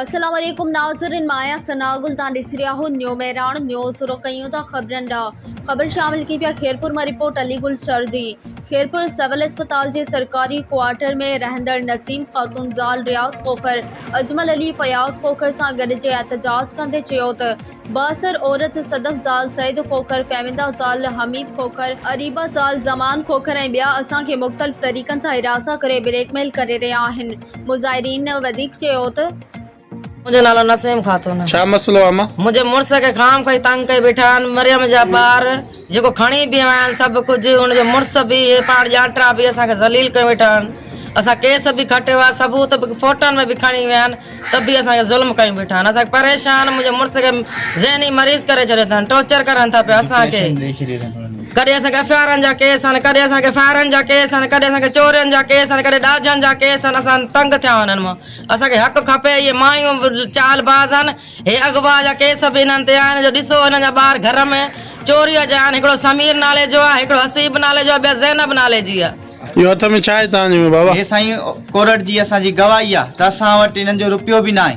السلام عليڪم ناظرين مان آهيان ثناء گل تان ڏسي رهيا آهو نيو مهراڻ نيوز رخ ڪيون ٿا خبرن ڏانهن خبر شامل ڪي پيا خيرپور مان رپورٽ علي گل شر جي خيرپور سول اسپتال جي سرڪاري ڪوارٽر ۾ رهندڙ نسيم خاتون زال رياض کوکر اجمل علي فياض کوکر سان گڏجي احتجاج ڪندي چيو ته بااثر عورت صدف زال سيد کوکر فهميده زال حميد کوکر اريبه زال زمان کوکر ۽ ٻيا اسان کي مختلف طريقن سان هراسان ڪري بليڪ ميل ڪري رهيا آهن مظاهرين وڌيڪ چيو ته. منهنجو نالو نسيم خاتون آهي. ڇا مسئلو آهي اما؟ منهنجي مڙس کي خام خوهي تنگ ڪئي بيٺا آهن، مريم جا ٻار جيڪو کڻي به آيا آهن سڀ ڪجهه هن جو مڙس به اهي پاڻ ڄاٽرا به اسان کي ذليل ڪيو ويٺا آهن، اسان ڪيس به کٽيو آهي ثبوت به فوٽن ۾ به کڻي ويا آهن ته به اسان کي ظلم ڪيو ويٺا آهن، اسان پريشان منهنجي مڙس کي ذهني مريض ڪري ڇڏيو اٿن، ٽوچر ڪرن ٿا پيا اسان کي. ڪڏهن اسان کي افيارن جا ڪيس آهن، ڪڏهن اسان کي فائرن جا ڪيس آهن، ڪڏهن اسان کي چورين جا ڪيس آهن، ڪڏهن ڏاجن جا ڪيس آهن، اسان تنگ ٿيا آهيون انهن مان، اسان کي حق کپي، اهي مايون به چال باز آهن، هي اغوا جا ڪيس به انهن تي آهن، جو ڏسو انهن جا ٻار گهر ۾ چوريء جا آهن، هڪڙو سمير نالي جو آهي، هڪڙو حسيب نالي جو آهي، ٻيا زينب نالي جي آهي. اهو هٿ ۾ ڇا آهي تنهنجي ۾ بابا؟ هي سائين ڪورٽ جي اسان جي گواهي آهي ته اسان وٽ انهن جو رپيو به ناهي.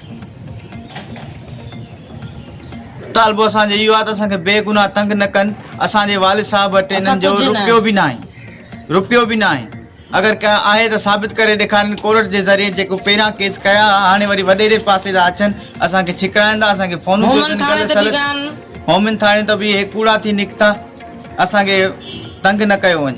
مطالبو اسان جو اهو آهي ته اسان کي بي گناهه تنگ نه ڪن اسان جي والد صاحب وٽ اسان انهن جو ڪجهه نه روپيو آهي. به نه آهي روپيو به نه آهي اگر ڪا آهي ته ثابت ڪري ڏيکارين ڪورٽ جي ذريعي جيڪو پهريان ڪيس ڪيا ها هاڻي وري وڏيري پاسي ٿا اچن اسان کي ڇڪرائين ٿا اسان کي فونون ٿيون مومن اچن ٿاڻي غلط ته سلط ڊيگان مومن ٿاڻي ته به اهي ڪوڙا ٿي نڪتا اسان کي تنگ نه ڪيو وڃي